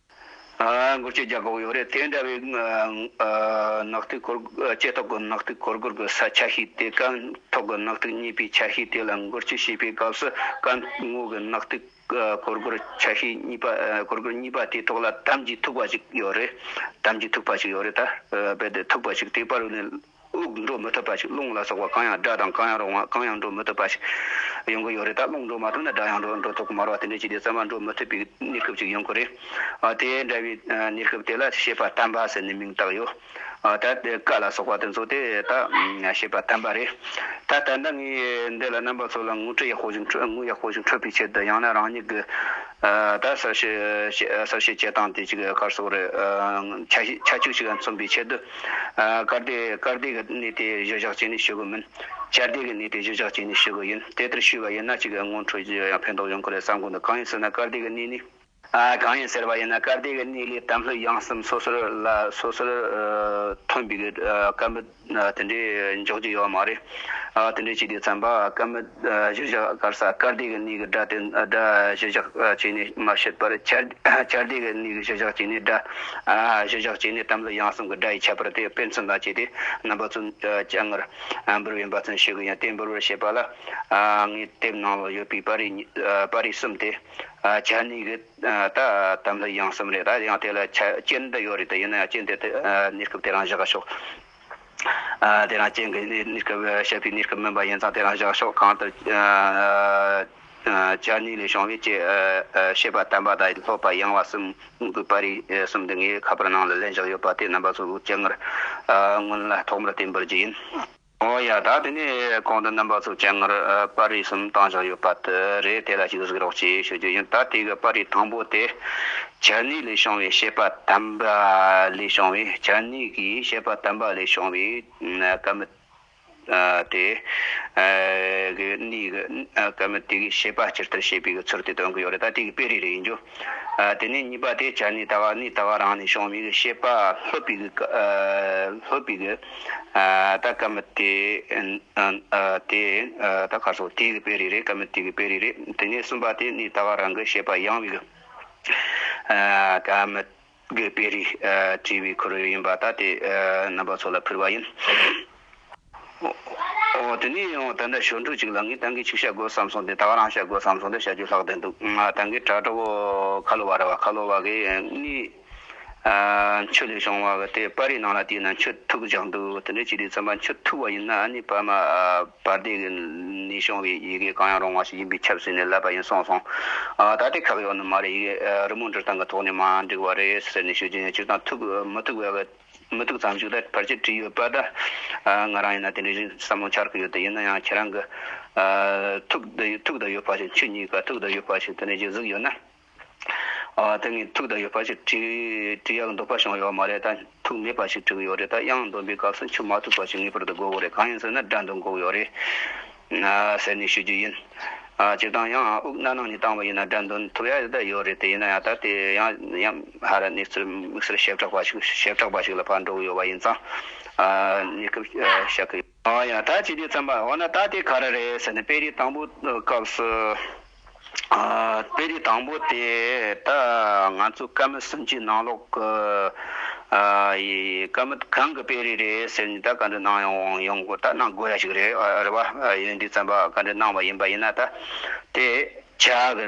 སྒོར་ཁྱི་རྒྱག་གོག་ཡོད་རེད་དེ་འདྲ་བའི་ནག་ཐིག་འཁོར་ལྕེ་ཐོག་གི་ནག་ཐིག་འཁོར་སྒོར་གྱི་ས་ཆ་ཤས་དེ་རྐང་ཐོག་གི་ནག་ཐིག་རྙེད་པའི་ཆ་ཤས་དེ་ལ་སྒོར་ཁྱི་ཞེས་པའི་སྐབས་སུ་རྐང་ངོ་གི་ནག་ཐིག་འཁོར་སྒོར་ཆ་ཤས་གཉིས་པ་འཁོར་སྒོར་གཉིས་པ་དེའི་ཐོག་ལ་དམ་གྱིས་ཐུག་པ་ཞིག་ཡོད་རེད་དམ་གྱིས་ཐུག་པ་ཞིག་ཡོད་རེད་ད་རྦད་དེ་ཐུག་པ་ཞིག་དེ་པར་ནས་དབུགས་འགྲོ་མི་ཐུབ་པ་ཞིག་རླུང་ལ་སོགས་པ་གང་ཡང་སྒྲ་དང་གང་ཡང་རོ་ང་གང་ཡང་འགྲོ་མི་ཐུབ་པ་ཞིག་ཡོང་གི་ཡོད་རེད་ད་རླུང་འགྲོ་མ་ཐུབ་ན་སྒྲ་ཡང་འགྲོ་འགྲོ་ཐུབ་ཀི་མ་རོ་དེ་འདྲའི་ཆེད་དུ་གསར་མ་འགྲོ་མི་ཐུབ་པའི་གནས་སྐབས་ཅིག་ཡོང་གི་རེད། དེ་འདྲ་བའི་གནས་སྐབས་དེ་ལ་ཤེས་པ་དམ་པ་ཟེར་ནས་མིང་བཏགས་ཡོད། ད་དེ་ཀ་ལ་སོགས་པ་དེ་ཚོ་དེ་ད་ཤེས་པ་དམ་པ་རེད། ད་ད་ལྟ་ངས་འདི་ལ་རྣམ་པ་ཚོ་ལ་ངུ་ཁྲི་ཡག་པོ་ཞིག་འཕྲོད་ངུ་ཡག་པོ་ཞིག་འཕྲོད་པའི་ཆེད་དུ་ཡང་ན་རང་ཉིད་ཀྱི་ད་གསར་བཤད་གསར་བཤད་བྱེད་སྟངས་དེ་ཅིག་ཁར་སོགས་རེད་ཆ་ཆུ་ཞིག་མཚོན་པའི་ཆེད་དུ། ཀརྡེ། ཀརྡེ་གི་གནས་དེ་གཞུ་བཞག་བྱས་ནས་ཞུ་གི་མིན། ཅརྡེ་གི་གནས་དེ་གཞུ་བཞག་བྱས་ནས་ཞུ་གི་ཡིན། དེ་ལྟར་ཞུས་པ་ཡིན་ན་གཅིག་གི་སྔོན་འཕྲོས་ཀྱི་ཡང་ཕན་ཐོགས་ཡོང་གི་རེད་བསམ་གི་འདུག་གང་ཡིན་ཟེར་ན་ཀརྡེ་གི་གནས་ནི། གང་ཡིན་ཟེར་བ་ཡིན་ན་ཀརྡེ་གི་གནས་ལས་དམ་ལྷོད་ཡངས་སེམས་སོ་སོར་ལ་སོ་སོར་ཐོན་པའི་སྐད་མི་དེ་འདྲའི་འཇོག་རྒྱུ་ཡོད་མ་རེད། དེ་འདྲའི་བྱས་དུས་བརྩམས་པ་སྐད་མི། གཞིར་བཞག་དཀར་ས་དཀར་ལྡེ་གི་གནས་ཀྱི་སྒྲ་དེ་སྒྲ་གཞིར་བཞག་བྱས་ནས་མ་བཤད་པར། ཆར་ལྡེ་གི་གནས་ཀྱི་གཞིར་བཞག་བྱས་ནས་སྒྲ། གཞིར་བཞག་བྱས་ནས་དམ་ལ་ཡང་གསུམ་གྱི་སྒྲ་ཡི་ཁྱད་པར་དེ་དཔེ་མཚོན་ལ་བྱས་ཏེ་རྣམ་པ་ཚུན་ཆད་ངར་འབུར་བའི་འབའ་ཚུན་ཤེས་གི་ཡང་དེ་འབུར་བར་བྱེད་པ་ལ། ངའི་དེབ་ནང་ལ་ཡོད་པའི་པར་རིས་པར་རིས་གསུམ་དེ། ཆར་གནས་ཀྱི་ད་དམ་ལ་ཡང་གསུམ་རེད་ད་ཡང་དེ་ལ་ཆ་རྐྱེན་འདི་ཡོད་རེད་ད་ཡིན་ན་ཡང་རྐྱེན་དེ་གནས་སྐབས་དེ་རང་བཞག་ཤོག། དེ་རང་སྐྱེས་གྱི་གནས་སྐབས་བཤད་པའི་གནས་སྐབས་མིན་པ་ཡིན་ཙང་དེ་རང་བཞག་ཕྱོགས་གང་ལྟར་བྱ་ནུས་ལས་བྱུང་བས་ཅེས་བཤད་པ་དམ་པ་དང་ལྷོད་པ་ཡངས་བ་གསུམ་གཉིས་པོའི་བར་རིགས་གསུམ་འདི་ངའི་ཁ་པར་ནང་ལ་ལན་བཞག་ཡོད་པ་དེ་རྣམ་པ་གཙོ་བོའི་སྤྱན་སྔར་སྔོན་ལ་ཐོག་མར་བསྟན་འབུལ་རྒྱུ་ཡིན། འོ་ཡ་ད་དེ་ནས་གོང་དུ་རྣམ་པ་གཙོ་བོའི་སྤྱན་སྔར་པར་རིས་གསུམ་བཏང་བཞག་ཡོད་པ་དེ་རེད་དེ་ལ་ཞིག་གཟིགས་རོགས་ཞེས་ཞུ་རྒྱུ་ཡིན་ད་ལྟའི་གི་པར་རིས་དང་པོ་དེ་བྱ་ནི་ལས་བྱུང་བའི་ཤེས་པ་དམ་པ་ལས་བྱུང་བའི་བྱ་ནི་གྱི་ཤེས་པ་དམ་པ་ལས་བྱུང་བའི་སྐད་མི་དེ། གི་ནི་གི་སྐད་མི་དེ་གི་ཤེས་པ་སྤྱིར་ལྟར་ཤེས་པའི་གི་ཚུལ་དེ་དོན་གྱི་ཡོ་རེ་ད་དེ་གི་དཔེ་རེ་རེ་ཡིན་རྒྱུ། དེ་ནས་གཉིས་པ་དེ་བྱ་ནི་ལྟ་བ་ནི་ལྟ་བ་རང་ནས་བྱུང་བའི་གི་ཤེས་པ་ལྷོད་པའི་གི་ལྷོད་པའི་གི་ད་སྐད་མི་དེ། དེ་ད་ཁ་སོ་དེ་གི་དཔེ་རེ་རེ་སྐད་མི་དེ་གི་དཔེ་རེ་རེ་དེ་ནས་གསུམ་པ་དེ་ནི་ལྟ་བ་རང་གི་ཤེས་པ་ཡང་བའི་གི། ཨ་མི་དགོས་པའི་རིགས་བྲིས་པའི་ཁོར་ཡུག་ཡིན་པ་ལྟ་དེ་རྣམ་པ་ཚོ་ལ་ཕུལ་བ་ཡིན། འོ་དེ་ནས་ཡང་ད་ལྟ་ཞོར་འཕྲུལ་ཅིག་ལ་ངས་ད་གིན་ཅིག་བྱ་དགོས་བསམ་སོང་དེ་ད་བ་རང་བྱ་དགོས་བསམ་སོང་དེ་བྱ་རྒྱུ་ལྷག་བསྡད་འདུག་ད་གིན་དྲ་གྲོགས་ཁ་ལོ་བ་རེད་བ་ཁ་ལོ་བ་གིས་ངས། མཆུ་ལས་བྱུང་བ་དེ་དཔའ་རིས་ནང་ལ་དེས་ན་མཆུ་ཐུག་སྦྱང་འདུག་དེ་འདྲའི་བྱས་དུས་བརྩམས་པ་མཆུ་ཐུག་བ་ཡིན་ན་ནི་བར་མ་བར་འདས་ཀྱི་ནས་བྱུང་བའི་ཡི་གེ་གང་ཡང་རུང་བ་ཞིག་ཡིན་པས་ཁྱབ་ཟེར་ནས་ལབ་པ་ཡིན་གསུངས་སོང། ད་དེ་ཁག་ཡོག་ནི་མ་རེད་ཡི་གེ་རི་མོ་འབྲི་སྟངས་ཀྱི་ཐོག་ནས་མ་འགྲིག་བ་རེད་ཟེར་ནས་ཞུ་རྒྱུ་ཡིན་མཆུ་དང་ཐུག་མི་ཐུག་བས་མི་ཐུག་ཙམ་ཞིག་ལ་ཕར་ཆེར་བྲིས་ཡོད་པ་འདྲ། ང་རང་ཡིན་ན་དེ་འདྲའི་བཞིན་བསམ་བློ་འཆར་གི་ཡོད་དེ་ཡིན་ན་ཡང་ཁྱེད་རང་གིས་ཐུག་ཐུག་དང་ཡོད་པ་ཞིག་མཆུ་གཉིས་ཀ་ཐུག་དང་ཡོད་པ་ཞིག་དེ་འདྲ་ཞིག་གཟིགས་ཡོད་ན། དེ་ངས་ཐུགས་དང་ཡོད་པ་ཞིག་བྲིས་ཡག་འདོགས་པ་བྱུང་ཡོད་མ་རེད་ད། ཐུགས་མེད་པ་ཞིག་བྲིས་ཡོད་རེད་ད་དབྱངས་འདོན་པའི་སྐབས་སུ་འཁྱུད་མ་ཐུབ་པ་ཞིག་ངེས་པར་དུ་དགོས་གོ་རེད་གང་ཡིན་ཟེར་ན་དགྲ་འདུལ་འགོག་ཡོད་རེད། ཟེར་ནས་ཞུ་རྒྱུ་ཡིན། སྤྱིར་བཏང་ཡང་དབུགས་སྣ་ནང་ནས་བཏང་བ་ཡིན་ན་དགྲ་འདུལ་ཐུབ་ཡག་ཡོད་རེད་དེ་ཡིན་ན་ཡང་ད་ལྟའི་ཡང་ཧ་ར་གནས་ཚུལ་དམིགས་བསལ་ཞེ་དྲག་པ་ཞིག་ཞེ་དྲག་པ་ཞིག་ལ་ཕར་འགྲོ་གི་ཡོད་པ་ཡིན་ཙང། གནས་སྐབས་བཤད་ཀི་ཡོད། ཨ་ཡ་ད་ཅི་སྟེ་བརྩམས་པ་འོ་ན་ད་དེ་ག་རེ་རེད་ཟེར་ནས་དཔེ་རིས་དང་པོ་སྐབས་སུ། དཔེ་རིས་དང་པོ་དེ་ད་ང་ཚོ་བཀའ་མི་གསུམ་གྱི་ནང་ལོགས་ཀྱི་བཀའ་མི་གང་གི་དཔེ་རིས་རེད་ཟེར་ནས་ད་ག་འདྲི་གནང་ཡོང་དགོས་ད་གནང་དགོས་ཡ་ཞིག་རེད་རེད་བ། ཡོན་འདི་བརྩམས་པ་ག་འདྲི་གནང་བ་ཡིན་པ་ཡིན་ན་ད་དེ་བྱ་གི།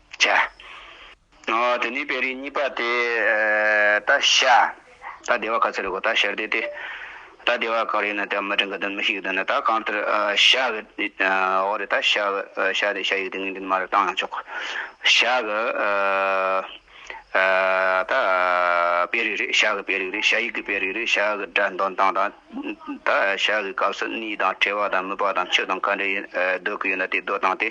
བྱ། ནའོ། དེ་ནི་དཔེ་རིས་གཉིས་པ་སྟེ། ད་ཤ། ད་བདེ་བ་ག་ཚོད་རེད་གོ་ད་ཤར་དེ་སྟེ། ད་བདེ་བ་གང་རེད་ན་དེ་མ་དྲན་ག་དོན་མི་ཤེས་གི་དོན་ན་ད་གང་ལྟར་ཤ་གི། འོ་རེད་ད་ཤ་གི་ཤ་དེ་ཤ་ཡིག་དེ་ངེས་འབྲེལ་མ་རེད་བཏང་ཡང་ཆོག་གོ། ཤ་གི། ད་དཔེ་རིས་རེད་ཤ་གི་དཔེ་རིས་རེད་ཤ་ཡིག་གི་དཔེ་རིས་རེད་ཤ་གི་སྒྲ་འདོན་སྟངས་དང། བདག་ཞག་གི་སྐབས་སུ་གནས་དང་བྲལ་བ་དང་མི་པ་དང་ཆོས་དང་ག་འདྲའི་སྡོད་ཀྱི་ཡོད་ན་དེ་སྡོད་དང་སྟེ།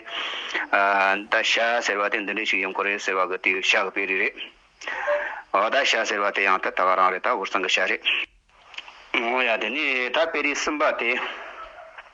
བདག་ཞག་ཟེར་བ་དེ་འདི་འདྲའི་ཞིག་ཡིན་ཁོ་རེད་ཟེར་བ་གི་དེ་ཞག་གི་དཔེ་རིས་རེད། བདག་ཞག་ཟེར་བ་དེ་ཡང་དེ་ད་ག་རང་རེད་ད་འུར་ཟིང་གི་ཞག་རེད། འོ་ཡ་དེ་ནས་ད་དཔེ་རིས་གསུམ་པ་དེ།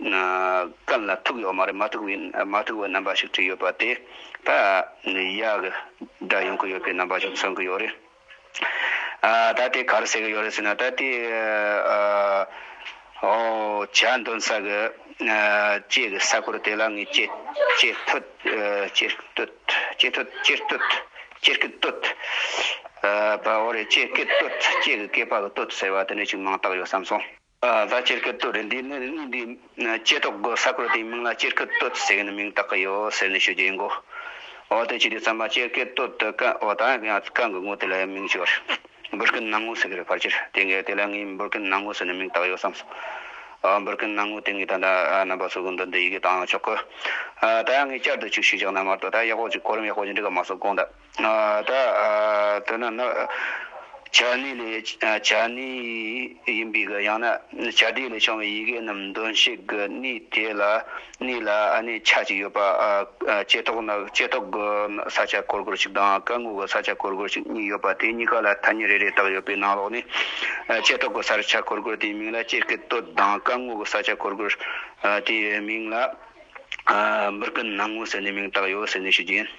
རྐང་ལ་ཐུག་ཡོད་མ་རེད་མ་ཐུག་བའི་མ་ཐུག་བའི་རྣམ་པ་ཞིག་བྲིས་ཡོད་པ་དེ་ད་ཡག་གི་སྒྲ་ཡོང་གི་ཡོད་པའི་རྣམ་པ་ཞིག་མཚོན་གི་ཡོད་རེད། ད་དེ་གར་ཟེར་གི་ཡོད་རེད་ཟེར་ན་ད་དེ་བྱ་འདོན་ས་གི་སྐྱེས་གི་ས་ཁུལ་དེ་ལ་ངས་སྐྱེས་སྟོད་སྐྱེས་སྟོད་སྐྱེས་སྟོད་སྐྱེས་སྟོད་སྐྱེས་ཀི་སྟོད་པའོ་རེད་སྐྱེས་ཀི་སྟོད་སྐྱེས་གི་སྐྱེས་པ་གི་སྟོད་ཟེར་བ་དེ་འདྲ་ཞིག་མང་དག་ཡོད་བསམ་སོང། བཟའ་སྤྱིར་སྐད་བཏོད་རེད་འདུག་གནས་འདིའི་སྐྱེས་ཐོག་དགོན་ས་ཁུལ་དེའི་མིང་ལ་སྤྱིར་སྐད་བཏོད་ཟེར་གྱི་མིང་བཏགས་ཀྱི་ཡོད་ཟེར་ནས་ཤོད་རྒྱུ་ཡིན་གོ། འོ་དེ་ཅི་རེད་བསམ་ན་སྤྱིར་སྐད་བཏོད་དེ་སྐད་འོ་ད་ཡང་སྐད་འགུལ་ངོ་དེ་ལ་མིང་བྱས་པར་འབུར་སྐད་ནང་ངོ་ཟེར་གྱི་རེད་ཕར་ཆེར་དེ་སྐད་དེ་ལ་ངས་འབུར་སྐད་ནང་ངོ་ཟེར་ནས་མིང་བཏགས་ཡོད་བསམ་སོང། འབུར་སྐད་ནང་ངོ་དེ་ངས་ད་ལྟ་རྣམ་པ་ཚོས་གོ་འདོད་འདི་ཡི་གེ་དང་ཡང་ཆོག་གོ། ད་ཡང་ངས་བསྐྱར་དུ་ཅིག་ཞུ་རྒྱག་ན་མར་དོ་ད་ཡག་པོ་ཅིག་གོ་རིམ་ཡག་པོ་ཅིག་འགྲིག་ག་མ་སོང་གོང་ད། ད་དོན་ནི་ནི། བྱ་ནི་ལས་བྱ་ནི་ཡིན་པའི་གི་ཡང་ན་བྱ་དེ་ལས་བྱུང་བའི་ཡི་གེ་རྣམས་འདོན་ཤེས་གི་ནི་དེ་ལ་ནི་ལ་ནི་ཆ་གཅིག་ཡོད་པ། བསྐྱེད་ཐོག་ནི་བསྐྱེད་ཐོག་གི་ས་ཆ་གོར་གོར་ཞིག་དང་སྐར་ངོ་གི་ས་ཆ་གོར་གོར་ཞིག་གཉིས་ཡོད་པ་དེ་གཉིས་ཀ་ལ་ཐ་སྙད་རེ་རེ་དག་ཡོད་པའི་ནང་ལོགས་ནས། བསྐྱེད་ཐོག་གི་ས་ཆ་གོར་གོར་དེའི་མིང་ལ་སྐྱེས་ཀྱི་སྟོད་དང་སྐར་ངོ་གི་ས་ཆ་གོར་གོར་དེའི་མིང་ལ། འབུར་གི་ནང་ངོ་ཟེར་ནས་མིང་བཏགས་ཡོད་ཟེར་ནས་ཞུ་རྒྱུ་ཡིན།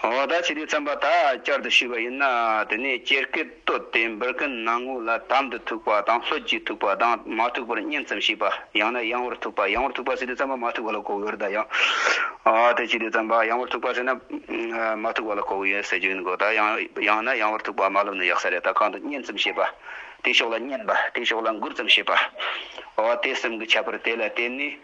འོ་ད་ཕྱི་དྲོའི་རྩམ་པ་ད་བསྐྱར་དུ་བཤུས་པ་ཡིན་ན་དེ་ནས་སྐྱེར་སྐེ་བཏོད་དེ་འབུར་ཁན་ནང་ངོས་ལ་དམ་དུ་ཐུག་པ་དང་ལྷོད་ཀྱིས་ཐུག་པ་དང་མ་ཐུག་པར་བསྙེམས་ཙམ་བྱས་པ་ཡང་ན་ཡང་བོར་ཐུག་པ་ཡང་བོར་ཐུག་པ་ཟེར་དུས་རྩམ་པ་མ་ཐུག་པ་ལ་གོ་གི་ཡོད་རེད་ད་ཡང་དེ་ཕྱི་དྲོའི་རྩམ་པ་ཡང་བོར་ཐུག་པ་ཟེར་ན་མ་ཐུག་པ་ལ་གོ་གི་ཡོད་ཟེར་རྒྱུ་ཡིན་གོ་ད་ཡང་ན་ཡང་བོར་ཐུག་པ་མ་ལབ་ན་ཡག་ས་རེད་ད་གང་དུ་བསྙེམས་ཙམ་བྱས་པ་དེ་ཕྱོགས་ལ་བསྙེམས་པ་དེ་ཕྱོགས་ལ་འགུར་ཙམ་བྱས་པ་འོ་དེ་གསུམ་གྱི་ཁྱད་པར་དེ་ལ་བརྟེན་ནས་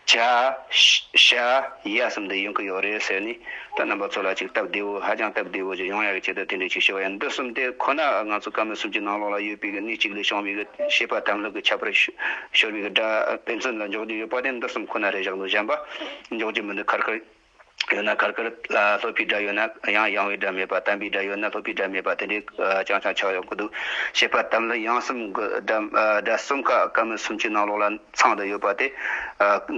བྱ། ཤ། ཡ་གསུམ་དུ་ཡོང་གི་ཡོད་རེད་ཟེར་ནས་ད་རྣམ་པ་ཚོ་ལ་ཅིག་སྟབས་བདེ་བོ་ཧ་ཅང་སྟབས་བདེ་བོ་ཅིག་ཡོང་ཡག་གི་ཆེད་དུ་དེ་འདྲའི་ཆིག་ཤོད་པ་ཡིན་འདི་གསུམ་དེ་ཁོ་ན་ང་ཚོ་བཀའ་མོལ་གསུམ་གྱི་ནང་ལོགས་ལ་ཡོད་པའི་གནས་གཅིག་ལས་བྱུང་བའི་གི་ཤེས་པ་དམ་ལུགས་ཀྱི་ཁྱད་པར་ཤོར་བའི་གི་སྒྲ་ཕན་ཚུན་ལ་འཇོག་རྒྱུ་ཡོད་པ་དེ་འདི་གསུམ་ཁོ་ན་རེད་བཞག་འདུག་གཞན་པ་འཇོག་རྒྱུ་མི་འདུག་ཁར་ཁར། ཡོད་ན་གར་གར་ལ་ལྷོད་པའི་སྒྲ་ཡོད་ན་ཡང་ཡང་བའི་སྒྲ་མེད་པ་དམ་པའི་སྒྲ་ཡོད་ན་ལྷོད་པའི་སྒྲ་མེད་པ་དེ་འདྲའི་རྐྱང་རྐྱང་ཆགས་ཡོང་གི་འདུག་ཞེས་པ་ལྟ་བུ་ལ་ཡང་གསུམ་གྱི་སྒྲ་གསུམ་ཀ་སྐབས་མི་གསུམ་གྱི་ནང་ལོགས་ལ་ཚང་དུ་ཡོད་པ་དེ་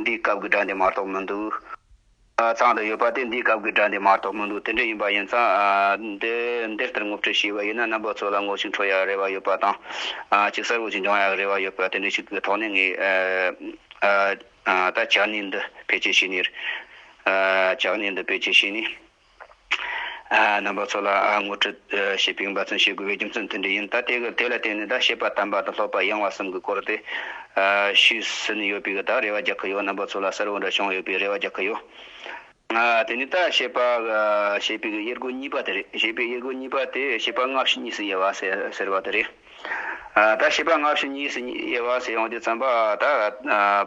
འདིའི་སྐབས་ཀྱི་སྒྲ་འདི་མ་གཏོགས་མི་འདུག། ཚང་དུ་ཡོད་པ་དེ་འདིའི་སྐབས་ཀྱི་སྒྲ་འདི་མ་གཏོགས་མི་འདུག་དེ་འདྲ་ཡིན་པ་ཡིན་ཙང་འདི་འདི་ལྟར་ངོ་སྤྲོད་བྱས་པ་ཡིན་ན་རྣམ་པ་ཚོ་ལ་ངོ་ཤེས་འཕྲོད་ཡག་རེ་བ་ཡོད་པ་དང་གཅིག་གསར་འོད་ཀྱིས་འབྱུང་ཡག་རེ་བ་ཡོད་པ་དེ་འདྲ་ཞིག་གི་ཐོག་ནས་ངས་ད་ལྕགས་སྣེ་འདི་བེད་སྤྱད་བྱས་ནས། ལྕགས་སྣེ་འདི་བེད་སྤྱད་བྱས་ནས། རྣམ་པ་ཚོ་ལ་ངོ་སྤྲོད་བྱེད་པའི་འབའ་ཚོན་བྱེད་དགོས་པའི་རྒྱུ་མཚན་མཐུན་འབྲེལ་ཡིན། ད་དེ་ལ་བརྟེན་ནས་ད་ཤེས་པ་དམ་པ་དང་ལྷོད་པ་གཡེང་བ་གསུམ་གྱི་སྐོར་དེ་ཤོད་ཟིན་ཡོད་པས་ད་རེ་བ་རྒྱག་གི་ཡོད་རྣམ་པ་ཚོ་ལ་གསལ་བོ་འདྲ་བྱུང་ཡོད་པས་རེ་བ་རྒྱག་གི་ཡོད། དེ་ནི་ད་ཞེས་པ་ཞེས་པའི་དབྱེ་སྒོ་གཉིས་པ་དེ་རེད། ཞེས་པའི་དབྱེ་སྒོ་གཉིས་པ་དེ་ཞེས་པ་སྔ་ཕྱི་གཉིས་སུ་དབྱེ་བ་ཟེར་བ་དེ་རེད། ད་ཞེས་པ་སྔ་ཕྱི་གཉིས་སུ་དབྱེ་བ་ཟེར་ཡོང་དུས་བརྩམས་པ་ད་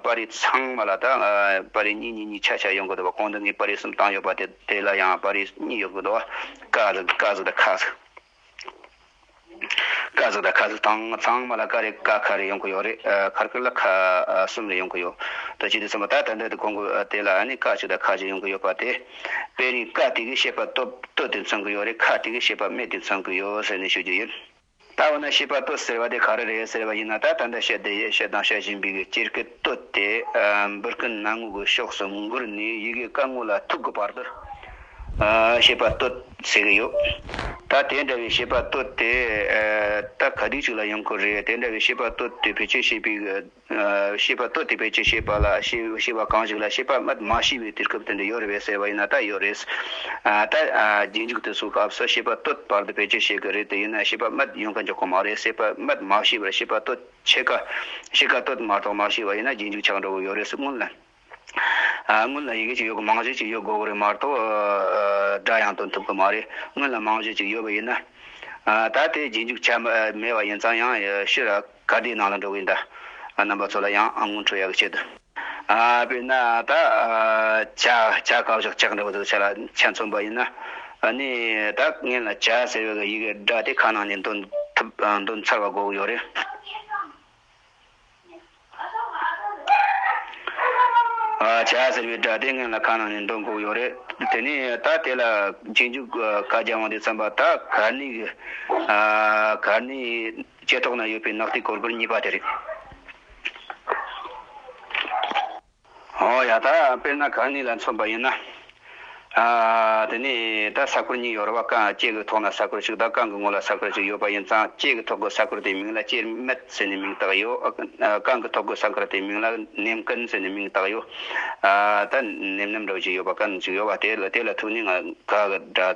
པར་རིས་ཚང་མ་ལ་ད་པར་རིས་གཉིས་གཉིས་གཉིས་ཆ་ཆ་ཡོད་དགོས་འདུག་པ་གོང་དུ་ངས་པར་རིས་གསུམ་བཏང་ཡོད་པ་དེ་ལ་ཡང་པར་རིས་གཉིས་ཡོད་དགོས་འདུག་བ། ཀ་གཟུགས་ཀ་གཟུགས་དང་ཁ་གཟུགས། ཀ་གཟུགས་དང་ཁ་གཟུགས་དང་ཚང་མ་ལ་ཀ་རེ་ཀ་ཁ་རེ་ཡོང་གི་ཡོད་རེད་ཁར་ཁུར་ལ་ཁ་གསུམ་རེ་ཡོང་གི་ཡོད་དོ་ཅི་སྟེ་ཚོམ་བུ་དག་དང་དོད་དུ་གོང་དགོས་དེ་ལ་ནི་ཀ་གཅིག་དང་ཁ་གཅིག་ཡོང་གི་ཡོད་པ་དེ་དཔེ་རིས་ཀ་དེ་གའི་ཤེས་པ་སྟོད་དེ་མཚོན་གི་ཡོད་རེད་ཁ་དེ་གའི་ཤེས་པ་སྨད་དེ་མཚོན་གི་ཡོད་ཟེར་ནས་ཤོད་རྒྱུ་ཡིན། ད་འོ་ན་ཤེས་པ་སྟོད་ཟེར་བ་དེ་ག་རེ་རེད་ཟེར་བ་ཡིན་ན་ད་ད་ལྟ་བཤད་དེ་ཡས་བཤད་དང་བཤད་བཞིན་པའི་གི་སྤྱིར་གི་སྟོད་དེ་འབུར་གི་ནང་ངོས་ཀྱི་ཕྱོགས་སུ་འགུར་ནས་ཡི་གེ་ཀ་ངོས་ལ་ཐུག་གི་བར་དུ། ཞེས་པ་བསྟོད་ཟེར་གྱི་ཡོད། ད་དེ་འདྲ་བའི་ཞེས་པ་བསྟོད་དེ་རྟགས་ག་དུས་ཅིག་ལ་ཡོང་ཁུལ་རེད་དེ་འདྲ་བའི་ཞེས་པ་བསྟོད་དེ་བེད་སྤྱོད་བྱེད་པའི་ཞེས་པ་བསྟོད་དེ་བེད་སྤྱོད་བྱེད་པ་ལ་ཞེས་པ་གང་ཞིག་ལ་ཞེས་པ་སྔར་མ་ཤི་བའི་དུས་སྐབས་དེ་འདྲ་ཡོད་རེད་ཟེར་བ་ཡིན་ན་ད་ཡོད་རེད། ད་རྗེས་འཇུག་དུས་སུ་སྐབས་སུ་ཞེས་པ་བསྟོད་བར་དུ་བེད་སྤྱོད་བྱེད་ཀྱི་རེད་དེ་ཡིན་ན་ཞེས་པ་སྔར་ཡོང་གི་འཇུག་གི་མ་རེད་ཟེར་བ་སྔར་མ་ཤི་བར་ཞེས་པ་བསྟོད་ཕྱེད་ཀ་ཕྱེད་ཀ་བསྟོད་མ་གཏོགས་མ་ཤི་བ་ཡིན་ན་རྗེས་འཇུག་ཆགས་འགྲོ་གི་ཡོད་རེད་སྔོན་ལ། སྔོན་ལ་ཡི་གེ་གཅིག་ཡོད་དགོས་མང་ཤོས་གཅིག་ཡོད་དགོས་ཀྱི་རེད་མ་གཏོགས་སྒྲ་ཡང་སྟོན་ཐུབ་ཀྱི་མ་རེད་སྔོན་ལ་མང་ཤོས་གཅིག་ཡོད་པ་ཡིན་ན། ད་དེ་རྗེས་འཇུག་ཆ་མེད་པ་ཡིན་ཙང་ཡང་ཕྱིར་ག་དེའི་ནང་ལ་འགྲོ་གི་ཡིན་ད། རྣམ་པ་ཚོ་ལ་ཡང་དངུལ་འཕྲོད་ཡག་གི་ཆེད་དུ། དཔེར་ན་ད་བྱ་བྱ་ག་བཞག་ཆག་འདྲ་པོ་ཚོ་བྱ་ལ་ཆ་མཚོན་པ་ཡིན་ན་ནི་ད་ངན་ལ་བྱ་ཟེར་བའི་ཡི་གེ་སྒྲ་དེ་ག་ནང་ནས་འདོན་ཐུབ་འདོན་ཚར་བ་དགོས་ཀྱི་ཡོད་རེད། བྱ་ཟེར་བའི་སྒྲ་དེ་ངན་ལ་ཁ་ནང་ནས་འདོན་དགོས་ཡོད་རེད། དེ་ནས་ད་དེ་ལ་རྗེས་འཇུག་བཀའ་རྒྱ་དབང་དུ་བརྩམས་པ་ད་གར་ནི་གར་ནི་ལྕེ་ཐོག་ན་ཡོད་པའི་ནག་ཐིག་གོར་པོར་གཉིས་པ་དེ་རེད། ཨོ་ཡ་ད་དཔེར་ན་གང་ནི་ལ་མཚོན་པ་ཡིན་ན། དེ་ནི་ད་ས་ཁུར་གཉིས་ཡོད་ར་བ་ཀང་ལྕེ་གི་ཐོག་ན་ས་ཁུར་ཞིག་དང་ཀང་གི་ངོ་ལ་ས་ཁུར་ཞིག་ཡོད་པ་ཡིན་ཙང་ལྕེ་གི་ཐོག་གི་ས་ཁུར་དེའི་མིང་ལ་ལྕེར་མེད་ཟེར་ནས་མིང་བཏགས་ཡོད། ཀང་གི་ཐོག་གི་ས་ཁུར་དེའི་མིང་ལ་ནེམ་སྐན་ཟེར་ནས་མིང་བཏགས་ཡོད། ད་ནེམ་ནེམ་འདྲ་བ་ཞིག་ཡོད་པ་ཀན་ཞིག་ཡོད་པ་དེ་ལ་ཐུག་ནི་ང་ག་གི་སྒྲ།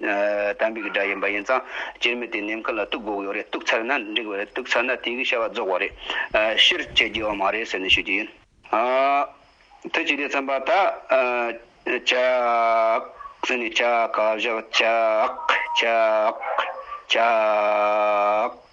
དམ་པའི་སྒྲ་ཡིན་པ་ཡིན་ཙང་སྤྱིར་མི་དེ་ནེམ་མཁའ་ལ་གཏུགས་དགོས་ཀྱི་ཡོད་རེད་གཏུགས་ཚར་ན་འགྲིག་བ་རེད་གཏུགས་ཚར་ན་དེ་གའི་བྱ་བ་རྫོགས་བ་རེད། ཕྱིར་བསྐྱེལ་རྒྱུ་ཡང་མ་རེད་ཟེར་ནས་ཤོད་རྒྱུ་ཡིན། ཐུགས་ཀྱི་ལས་བརྩམས་པ་དག། ཅག། ཟེར་ནས་ཅག་བཞག་ཅག། ཅག། ཅག།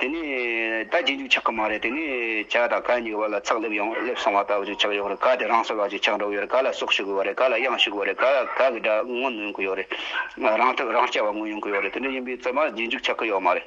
དེ་ནས་ད་རྗེས་འཇུག་ཆགས་ཀྱི་མ་རེད་དེ་ནས་བྱ་དང་ག་གཉིས་ཀྱི་བར་ལ་ཚགས་སླེབས་ཡོང་སླེབས་སོང་བ་ལྟ་བུ་ཞིག་ཆགས་ཡོད་རེད་ག་དེ་རང་སོ་ལགས་ཀྱིས་ཆགས་འགྲོ་གི་ཡོད་རེད་ག་ལ་སྲོག་ཤི་དགོས་བ་རེད་ག་ལ་གཡང་ཤི་དགོས་བ་རེད་ག་ལ་ག་གི་དགྲ་ངོ་ནོན་གྱི་ཡོད་རེད་རང་ཐུགས་རང་སྐྱ་བ་ངོ་ཡོང་གི་ཡོད་རེད་དེ་འདྲ་ཡིན་པའི་རྩ་མ་རྗེས་འཇུག་ཆགས་ཀྱི་ཡོད་མ་རེད།